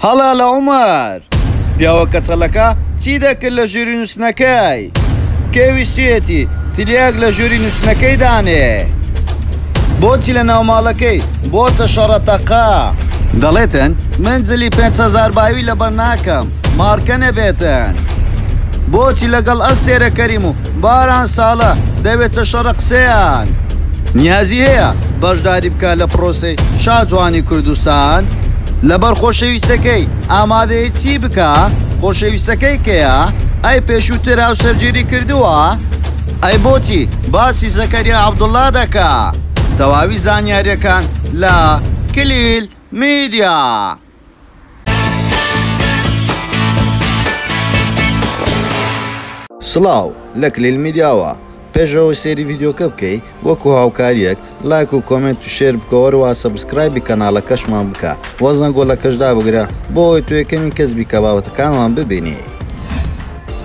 هەڵە لە عومەر. پیاوە کەچەڵەکە چی دەکرد لە ژووری نووستنەکەی؟ کێ ویستویەتی تلیاک لە ژووری نووستنەکەی دانێ؟ بۆچی لە ناو ماڵەکەی بۆتە شەڕەتەقە؟ دەڵێتن من جلی پێنج هەزار باوی لەبەر ناکەم مارکە نەبێتن بۆچی لەگەڵ ئەستێرە کەریم و باران ساڵە دەوێتە شەڕە قسەیان نیازی هەیە بەشداری بکە لە پرۆسی شاجوانی کوردستان لەبەر خۆشەویستەکەی ئامادەیە چی بکە خۆشەویستەکەی کەیە ئەی پێشووتر هاو سەرگیری کردووە ئەی بۆچی باسی زەکەریا عبدوڵا دەکە تەواوی زانیاریەکان لە کلیل میدیا. سڵاو لە کلیل میدیاوە پێشەوە سێری ڤیددیوکە بکەی وەکو هاوکاریەک لایک و کۆمنت و شێر بکەوەەوە سەبسکرایبی کەناڵەکەشمان بکە وەزن گۆڵەکەشدا بگرە بۆی توێ کەمی کەس بیکە باوەتەکانمان ببینی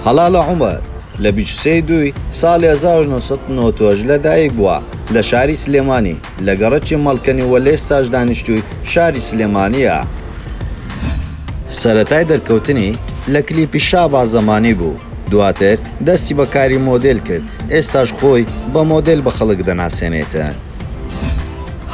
هەڵا لە عمر لە بیچسەی دوی ساڵی 1990 لەدایک بووە لە شاری سلێمانی لە گەڕەکی مەڵکەنی و لە ئێستاش دانیشتووی شاری سلێمانییە. سەرەتای دەرکەوتنی لە کلیپی شاباز زەمانی بوو، دواتر دەستی بە کاری مۆدێل کرد، ئێستاش خۆی بە مۆدێل بە خەڵک دەناسێنێت.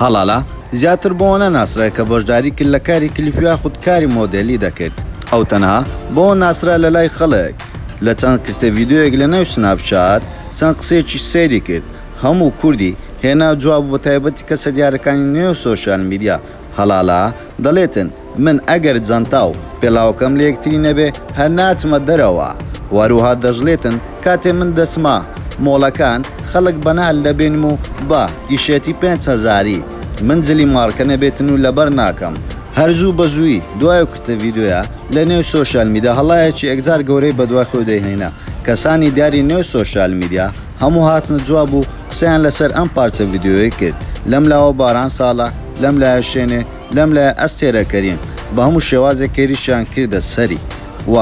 هەڵالا زیاتر بەوە ناسرایە کە بەشداری کرد لە کاری کلیپ یاخود کاری مۆدێلی دەکرد، ئەو تەنها بەوە ناسرا لەلای خەڵک لە چەند کرتە ڤیدیۆیەک لەنێو سناپ چات چەند قسەیەکیش سەیری کرد، هەموو کوردی هێنا جواب و بە تایبەتی کەسە دیارەکانی نێو سۆشیال میدیا هەڵالا دەڵێتن من ئەگەر جەنتا و پێڵاوەکەم لەیەکتری نەبێ هەر ناچمە دەرەوە و هەروەها دەشڵێتن کاتێ من دەچمە مۆڵەکان خەڵک بە نەعل دەبینم و بە تیشێرتی پێنج هەزاری من جلی مارکە نەبێتن و لەبەر ناکەم هەر زوو بە زووی دوای ئەو کورتە ڤیدیۆیە لە نێو سۆشیال میدیا هەڵایەکی ئێکجار گەورەی بەدوای خۆی دەیهێنا کەسانی دیاری نێو سۆشیال میدیا هەموو هاتنە جواب و قسەیان لەسەر ئەم پارچە ڤیدیۆیە کرد لەم لاوە باران ساڵە لەم لایە شێنێ لەم لایە ئەستێرە کەریم بە هەموو شێوازێک کەیریشیان کردە سەری و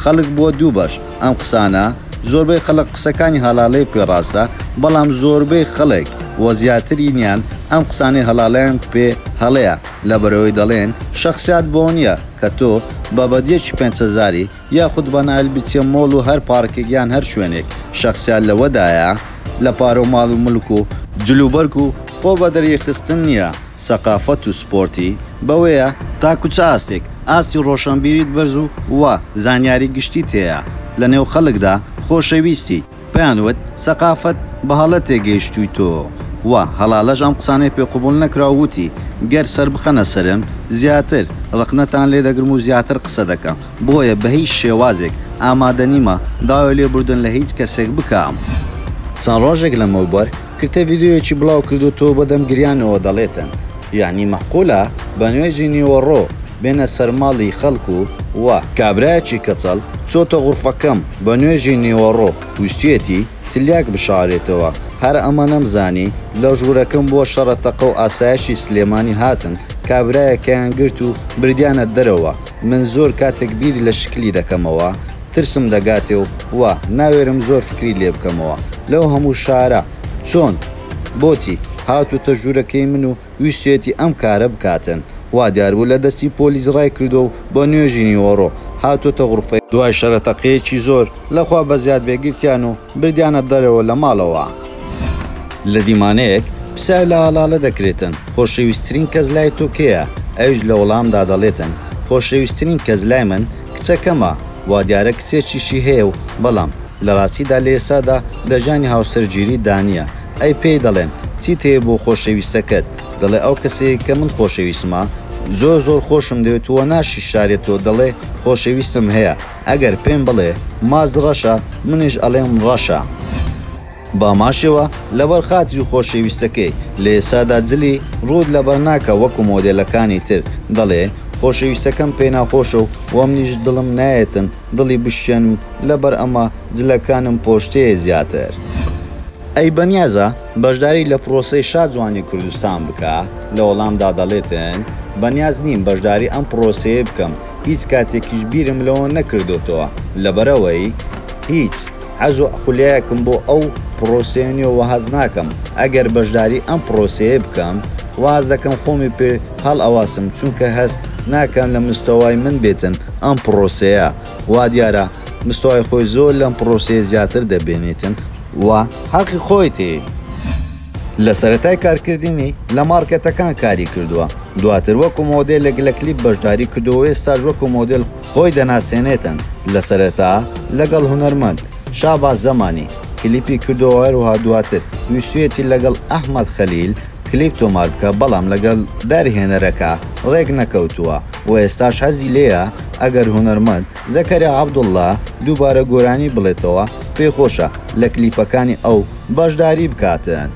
خەڵک بووە دوو بەش ئەم قسانە زۆربەی خەڵک قسەکانی هەڵاڵەی پێ ڕاستە بەڵام زۆربەی خەڵک و زیاترینیان ئەم قسانەی هەڵاڵەیان پێ هەڵەیە لەبەرئەوەی دەڵێن شەخسیات بۆ نیە کە تۆ بە بەدیەکی پێنج هەزاری یاخود بەنایل بچیە مۆڵ و هەر پارکێک یان هەر شوێنێک شەخسیان لەوەدایە لە پارەو ماڵ و ملک و جلوبەرگ و خۆ بەدەریخستن نیە سەقافەت و سپۆرتی بەوەیە. تاکو چ ئاستێک ئاستی ڕۆشەنبیریت بەرز و وا زانیاری گشتیت هەیە لەنێو خەلکدا خۆشەویستی. پێیان وت، سەقافت بەهەڵە تێگەیشتوویتۆ و هەڵالەش ئەم قسانەی پێ قبوڵ نەکرا و وتی، گەر سەربخەنە سەرم، زیاتر ڕەخنەتان لێ دەگرم و زیاتر قسە دەکەم، بۆیە بە هیچ شێوازێک ئامادە نیمە داوای لێبوردن لە هیچ کەسێک بکەم. چەند ڕۆژێک لەمەوبەر کتە ڤیدیۆیەکی بڵاو کردۆتەوە بەدەم گریانەوە دەڵێتن یەعنی مەعقولە بە نوێژی نیوەڕۆ بێنە سەر ماڵی خەڵک و وا کابرایەکی کەچەڵ چۆتە غورفەکەم بە نوێژی نیوەڕۆ ویستویەتی تلیاک بشارێتەوە هەر ئەمەنەم زانی لە ژورەکەم بوە شەڕە تەقەو ئاسایشی سلێمانی هاتن کابرایەکەیان گرت و بردیانە دەرەوە من زۆر کاتەک بیر لە شکلی دەکەمەوە ترسم دەگاتێ و وا ناوێرم زۆر فکری لێ بکەمەوە لەو هەموو شارە چۆن بۆچی هاتووتە ژوورەکەی من و ویستویەتی ئەم کارە بکاتن وا دیار بوو لە دەستی پۆلیس ڕای کردووە و بۆ نوێژی نیوەڕۆ هاتووتە غرفەی دوای شەرە تەقەیەکی زۆر لە خوا بەزیاد بێ گرتیان و بردیانە دەرەوە لە ماڵەوە. لە دیمانەیەک پرسیار لە ئاڵاڵە دەکرێتن، خۆشەویستترین کەس لای تۆ کێیە؟ ئەویش لە وەڵامدا دەڵێتن، خۆشەویستترین کەس لای من کچەکەمە، وادیارە کچێکیشی هەیە و بەڵام لە ڕاستیدا لە ئێستادا لە ژانی هاوسەرگیری دانییە، ئەی پێی دەڵێن، چیت هەیە بۆ خۆشەویستەکەت؟ دەڵێ، ئەو کەسەی کە من خۆشەویستمە، زۆر زۆر خۆشم دەوێت و ناشیشارێتەوە، دەڵێ، خۆشەویستم هەیە. ئەگەر پێم بڵێ ماز ڕەشە منیش ئەڵێم ڕەشە. باماشێوە لەبەر خاتری خۆشەویستەکەی لە ئێسادا جلی ڕووت لەبەر ناکا وەکو مۆدێلەکانی تر دەڵێ خۆشەویستەکەم پێ ناخۆشە و وەمنیش دڵم نایەتن دڵی بشکێنم لەبەر ئەمە جلەکانم پۆشتەیە زیاتر. ئەی بەنیازە بەشداری لە پڕۆسەی شا جوانی کوردستان بکا؟ لە وەڵامدا دەڵێتن بەنیاز نیم بەشداری ئەم پڕۆسەیەی بکەم، هیچ کاتێکیش بیرم لەوە نەکردۆتەوە لەبەرئەوەی هیچ حەز و خولیایەکم بۆ ئەو پڕۆسەیە نیە و حەز ناکەم ئەگەر بەشداری ئەم پڕۆسەیە بکەم واز دەکەم خۆمی پێ هەڵئەواسم چونکە هەست ناکەم لە مستەوای من بێتن ئەم پڕۆسەیە وا دیارە مستەوای خۆی زۆر لەم پڕۆسەیە زیاتر دەبینێتن و حەقی خۆیەتی. لە سەرەتای کارکردنی لە مارکێتەکان کاری کردووە، دواتر وەکو مۆدێلێک لە کلیپ بەشداری کردووە و ئێستاش وەکو مۆدێل خۆی دەناسێنێتن، لە سەرەتا لەگەڵ هونەرمەند، شاباز زەمانی، کلیپی کردووە و هەروەها دواتر ویستویەتی لەگەڵ، ئەحمەد خەلیل، کلیپ تۆمار بکا بەڵام لەگەڵ دەرهێنەرەکە ڕێک نەکەوتووە و ئێستاش حەزی لێیە ئەگەر هونەرمەند، زەکەریا عەبدوڵا دووبارە گۆرانی بڵێتەوە پێی خۆشە لە کلیپەکانی ئەو بەشداری بکاتن.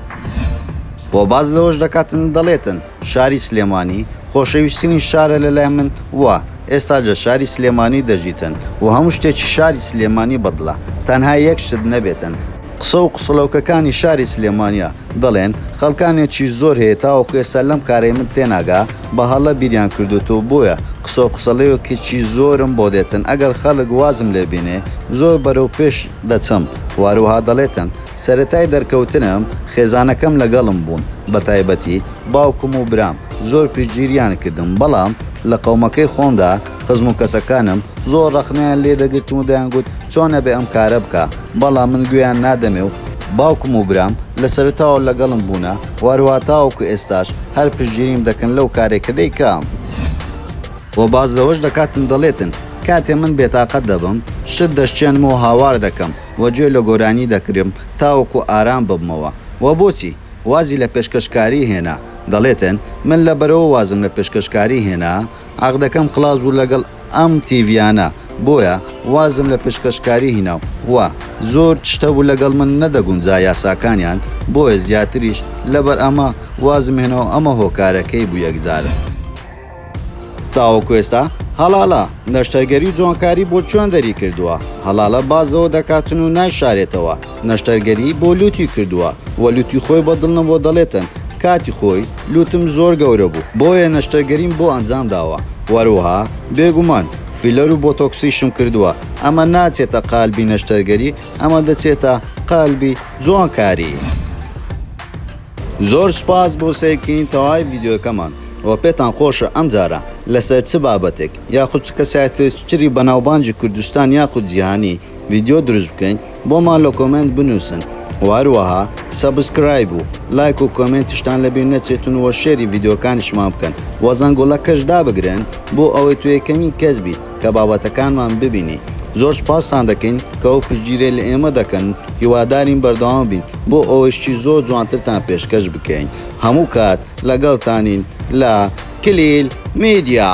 و باس لەوەش دەکاتن دەڵێتن شاری سلێمانی خۆشەویسترین شارە لەلای من و ئێستا جە شاری سلێمانی دەژیتن و هەموو شتێکی شاری سلێمانی بەدڵە تەنها یەک شت نەبێتن قسە و قسڵۆکەکانی شاری سلێمانیە دەڵێن خەڵکانێکیش زۆر هەیە تاوەکو ئێستا لەم کارەی من تێناگا بە هەڵە بیریان کردۆتەوە بۆیە قسە و قسڵیۆکێکی زۆرم بۆ دێتن ئەگەر خەڵک وازم لێ بێنێ زۆر بەرەو پێش دەچم واروەها دەڵێتن سەرەتای دەرکەوتنم خێزانەکەم لەگەڵم بوون بە تایبەتی باوکم و برام زۆر پشتگیریان کردم بەڵام لە قەومەکەی خۆمدا خزم و کەسەکانم زۆر ڕەخنەیان لێ دەگرتم و دەیانگوت چۆن ئەبێ ئەم کارە بکا بەڵام من گوێیان نادەمێ و باوکم و برام لە سەرەتاوە لەگەڵم بوونە و هەروەها تاوەکو ئێستاش هەر پشتگیریم دەکەن لەو کارەی کە دەیکەم. وە باس لەوەش دەکاتن دەڵێتن کاتێ من بێتاقەت دەبم شت دەشکێنم و هاوار دەکەم و گوێ لە گۆرانی دەکرم تاوەکو ئارام ببمەوە وە بۆچی وازی لە پێشکەشکاری هێنا دەڵێتن من لەبەرەوە وازم لە پێشکەشکاری هێنا عەقدەکەم خڵاس بوو لەگەڵ ئەم تیڤیانە بۆیە وازم لە پشکەشکاری هینا و وا زۆر چشتە بوو لەگەڵ من نەدەگونجا یاساکانیان بۆیە زیاتریش لەبەر ئەمە وازم هێناو ئەمە هۆکارەکەی بوو یەکجارە تاوەکو ئێستا هەڵاڵە نەشتەرگەری و جوانکاری بۆ چوێندەری کردووە هەڵاڵە باز لەوە دەکاتن و نایشارێتەوە. نەشتەرگەری بۆ لوتی کردووە و لوتی خۆی بە دڵ نەبووە دەڵێتن کاتی خۆی لوتم زۆر گەورە بوو بۆیە نەشتەرگەریم بۆ ئەنجام داوە و هەروەها بێگومان فیلەر و بۆتۆکسیشم کردووە ئەمە ناچێتە قالبی نەشتەرگەری ئەمە دەچێتە قالبی جوانکاری. زۆر سوپاس بۆ سەیرکردنی تەواوی ڤیدیۆکەمان و پێتان خۆشە ئەمجارە لەسەر چ بابەتێک یاخود چ کەسایەتێکی تری بەناوبانگی کوردستان یاخود جیهانی ڤیدیۆ دروست بکەین؟ بۆمان لە کۆمێنت بنوسن و هەروەها سەبسکرایب و لایک و کۆمێنتیشتان لەبیر نەچێتن و شێری ڤیدیۆکانیشمان بکەن و زەنگوڵەکەش دابگرن بۆ ئەوەی تۆ یەکەمین کەس بیت کە بابەتەکانمان ببینی زۆر سوپاستان دەکەین کە ئەو پشتگیرەی لە ئێمە دەکەن و هیوادارین بەردەوام بین بۆ ئەوەی شتی زۆر جوانترتان پێشکەش بکەین هەموو کات لەگەڵتانین لە کلیل میدیا.